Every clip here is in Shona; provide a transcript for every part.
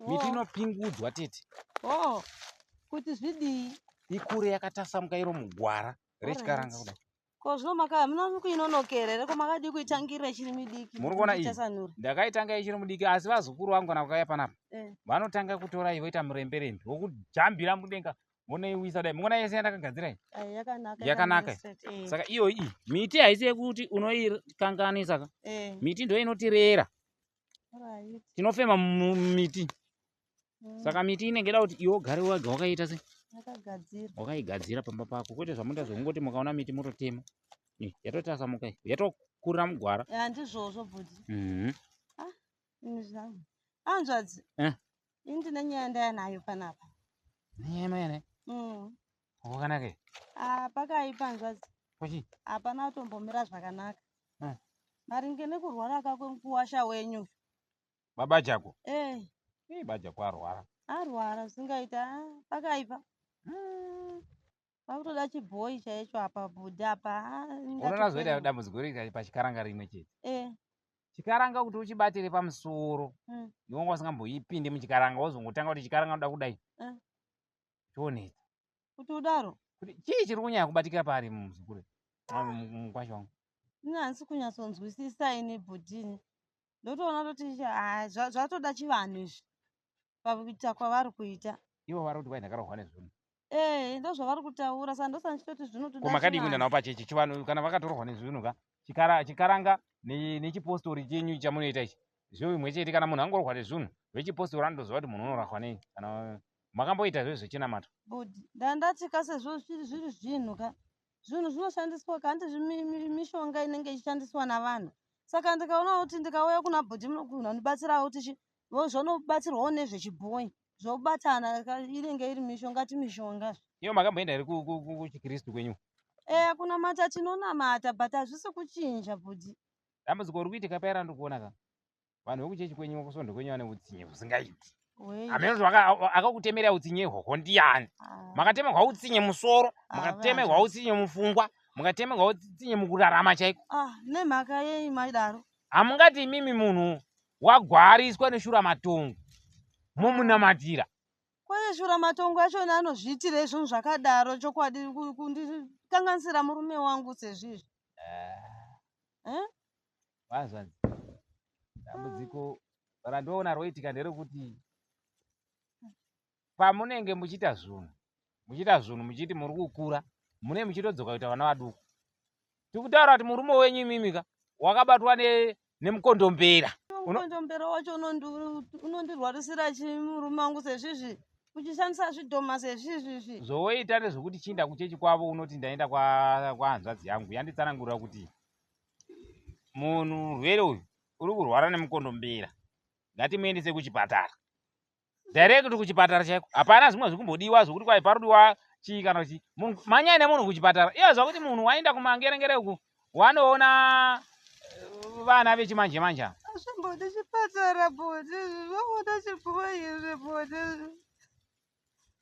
miti inopingudzwa tete oh kuti zvidii ikure yakatasamuka iro mugwara rechikaranga kudai ko zvino maka munono kuinonokera here ko makadii kuitangira ichiri midiki muri kuona iyi ndakaitanga ichiri mudiki asi vazukuru vangu kana vakauya panapa eh. vanotanga kutora iyi voita muremberembe wokujambira mudenga vonaiwisa dai mungona yese yandakagadzira iyi yakanaka eh. saka iyoyi iyi miti haisi yekuti unoikanganisa ka eh. miti ndo inotirera tinofema mumiti mm. saka miti inenge da kuti iwe ugare wega wakaita se wakaigadzira pamba pako kwete zvamuita zvekungoti mukaona miti mototema yatotasamuka yatokurira mugwara handizvozvo bhudi mhm. ah, anzvadzi eh? ini ndine nyaya ndaya nayo panapa nyaya yamai nayo mm. Kwakanaka. Ah, pakaipa hanzvadzi. Kuchi? Hapana kutombomira zvakanaka. Hmm. Maringe nekurwara kako mukuwasha wenyu. Baba chako? Eh. Hey, bajako arwara. Arwara zvingaita ah, pakaipa. Hmm. Pakutoda chibhoyi chaicho apa bhudhi apa. Ah, Unoona zvoita dambudziko riri pachikaranga rimwe chete. Eh. Chikaranga kuti uchibatire pamusoro. Hmm. Iwe wanga usingamboipinde muchikaranga wozongotanga kuti chikaranga unoda kudai. Eh. chonetsa kuti udaro kuti chii chiri kunyanya kubatikira paari muzukuru mukwasha wangu ini handisi kunyatsonzwisisa ini bhudhini ndotoona toti ah, zvatoda chivanhu izvi pakuita kwavari kuita ivo vari kuti kwai ndakarohwa nezvinhu ee eh, ndozvavari kutaura sa ndosa ndichitoti zvinotodakomakadii kuenda navo pachechi chivanhu kana vakatorohwa nezvinhu ka chikaranga nechipostori chenyu chamunoita ichi zvoimwe chete kana munhu angorohwa nezvinhu vechipostori anotoziva kuti munhu unorahwa nei kana makamboita zve zvechinamato but ndandati ka sezvo zviri zvinhu ka zvinhu zvinoshandiswa ka hanti mishonga inenge ichishandiswa navanhu saka ndikaona kuti ndikauya kuna bhodhi munokuhuna ndibatsirawo kuti chi zvonobatsirwawo nezvechibhoyi zvobatana inenge iri mishonga ti mishonga iyo makamboenda here kuchikristu kwenyu eya eh, kunamata tinonamata but hazvisi kuchinja bhodhi dambudziko uri kuitika paera ndikuona ka vanhu vekuchechi kwenyu kusvondo kwenyu vane utsinye husingaiti hameno kuti akakutemerea utsinye ihwohwo ndiyani ah. makatemerwa utsinye musoro ah, mukatemerwa utsinye mufungwa mukatemerwa utsinye mukurarama chaiko ah, nemhaka yei maidaro hamungati imimi munhu wagwariswa neshura matongo momunamatira kwaye shura matongo achona anozviitira izvonhu zvakadaro chokwadi kundikanganisira murume wangu sezvizvi eh? Hazvanzi. Dambudziko randoona roitika nderokuti pamunenge muchiita zvinhu muchiita zvinhu muchiti muri kukura mune muchitodzoka kuita vana vaduku tiri kutaura kuti murume wenyu imimika wakabatwa nemukondombera mukondombera wacho unondirwarisira chii murume wangu sezvizvi uchishandisa zvidhoma sezvizvizvi zvowoita nezvekuti chiinda kuchechi kwavo unoti ndaenda kwahanzvadzi yangu yanditsanangurira kuti munhu murwere uyu uri kurwara nemukondombera ngatimuendese kuchipatara direct kuchipatara chaiko hapana zvimwe zviri kumbodiwa zvokuti kwai parodiwa chii kana chii manyai nemunhu kuchipatara iye zva kuti munhu waenda kumangerengere uku wanoona eh, vana vechimanje manje azvimbodi chipatara bodi zvokuda chipfuwa izvi bodi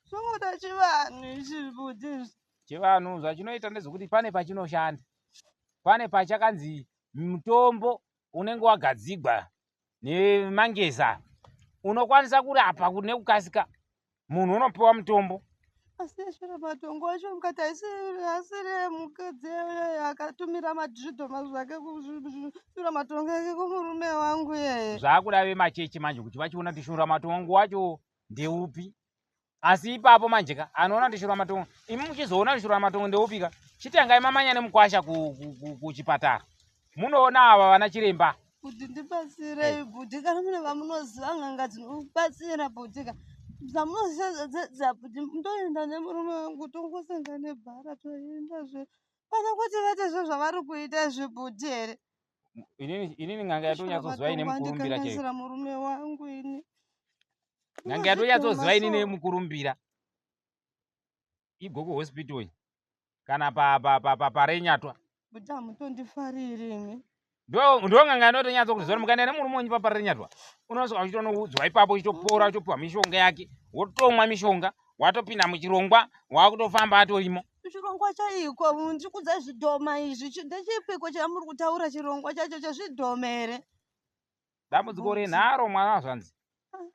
Zvinoda chivanhu izvi zvibudzi izvi. Chivanhu zvachinoita ndezvekuti pane pachinoshanda. Pane pachakanzi mutombo unenge wagadzigwa nemangeza unokwanisa kurapa kuti nekukasika munhu unopiwa mutombo. Asi zviro matongo acho mukati haisi asiri emukadzi iyeye akatumira madhiridhoma zvake kushura matongo ake kumurume wangu iyeye. Zvakuda vemachechi manje kuti vachiona kuti shura matongo wacho ndeupi asi ipapo manje ka anoona kuti shura matongo imi muchizoona kuti shura matongo ndeupi ka chitangai mamanya nemukwasha kuchipatara munoona ava vana chiremba kuti ndibatsirei bhudhi kana mune vamunoziva n'anga dzinobatsira bhudhi ka zvamunoziva bhudhi ndoenda nemurume wangu tongosanga nebhara toendazve pana kuti vate zvo zvavari kuita izvi bhudhi here inini n'anga yatonyatsoziva ine mukurumbira chaizvo murume wangu ini n'anga yatonyatsoziva inini mukurumbira igoku hospital iyi kana parenyatwa kuti hamutondifariri imi ndonganga inotonyatsa kuti zora mukaenda nemurume wenyu paparenyatwa unosvika uchitonoudzwa ipapo uchitopora uchitopiwa mishonga yake wotomwa mishonga watopinda muchirongwa wakuto famba atorimo chirongwa chaiko ndiri kudza zvidhoma izvi ndechipiko chamuri kutaura chirongwa chacho chezvidhoma here dambudziko renharo mwana azvanzi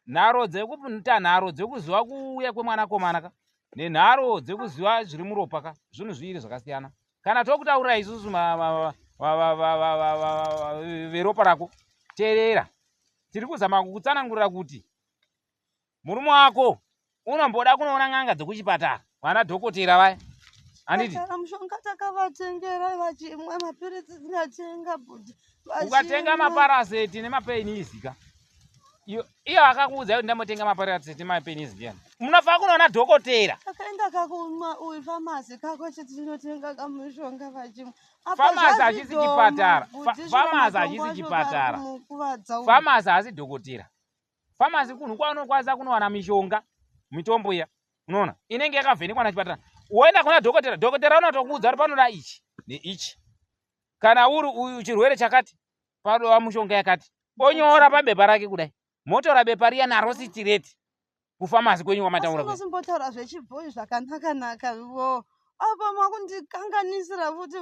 nharo dzekuita nharo dzekuziva kuuya kwemwanakomana ka nenharo dzekuziva zviri muropa ka zvinhu zviiri zvakasiyana kana tokutaurira isusu veropa rako teerera tiri kuzama kukutsanangurira kuti Murume wako unomboda kunoona n'anga dzekuchipatara vana dhokotera vaya handiti mushonga takavatengera vachimwa mapiritsi dzinatenga bhudhi ukatenga maparaseti nemapaini izika iyo akakuudza kuti ndambotenga maparaseti nemapaini izi ndiyani munofanira kunoona dhokotera akaenda kakumwa uyu famasi kako chiti tinotenga kamushonga vachimwa famasi hachisi chipatara famasi hachisi chipatara famasi hasi dhokotera famasi kunhu kwaunokwanisa kunowana mishonga mitombo iya unoona inenge yakavhenekwa nachipatara woenda kuna dhokotera dhokotera unotokuudza kuti panoda ichi neichi kana uri uyu chirwere chakati padova mushonga yakati onyora pabepa rake kudai motora bepa riya naro sitireti kufamasi kwenyu wamataura zvichibhoyi zvakanaka naka apa makundikanganisira futi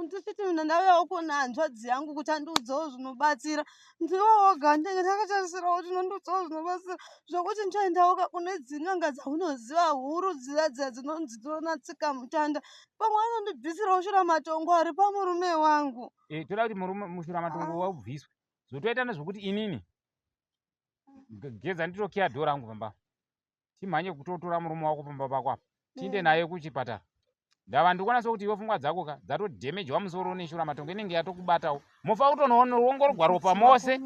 ndichiti mina ndauyawo kuona hanzvadzi yangu kuti andiudzawo zvinobatsira ndiwowoga ndenge ndakatarisirawo kuti nondiudzawo zvinobatsira zvokuti ndichaendawoka kune dzin'anga dzaunoziva huru dziya dziya dzinonzi dzinonatsika mutanda pamwe anondibvisirawo shura matongo ari pamurume wangu eh, toda kuti murume mushura matongo ah. waubviswe zvotoita nezvokuti inini geza nditokiya dho rangu pamba timhanye kutotora murume wako pamba pako apa tiinde mm. naye kuchipatara ndava ndikuona sokuti iwe pfungwa dzako ka dzatodhemejwa musoro neshura matongo inenge yatokubatawo mofa kutonoongorogwa ropa mose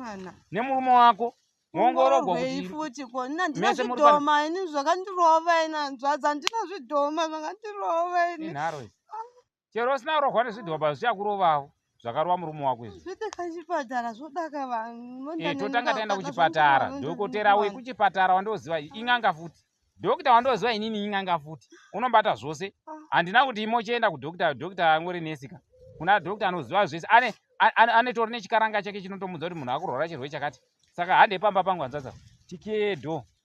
nemurume wako moongorogwa kutiinazvidhomamese zvakandirova ini hanzvadza ndinazvidhoma zvakandirova ini chero usina rohwa nezvidhobha zvichakurovawo zvakarova murume wako izvi eh, totanga taenda kuchipatara dhokotera wekuchipatara wandoziva ing'anga futi dhokita wandoziva inini ing'anga futi unobata zvose ah. handina kuti imochienda kudhokita dhokita angori nesika kuna dhokita anoziva zvese ane anotori nechikaranga chake chinotomudza kuti munhu akurwara chirwere chakati saka hande pamba pangu hanzvadza tikedo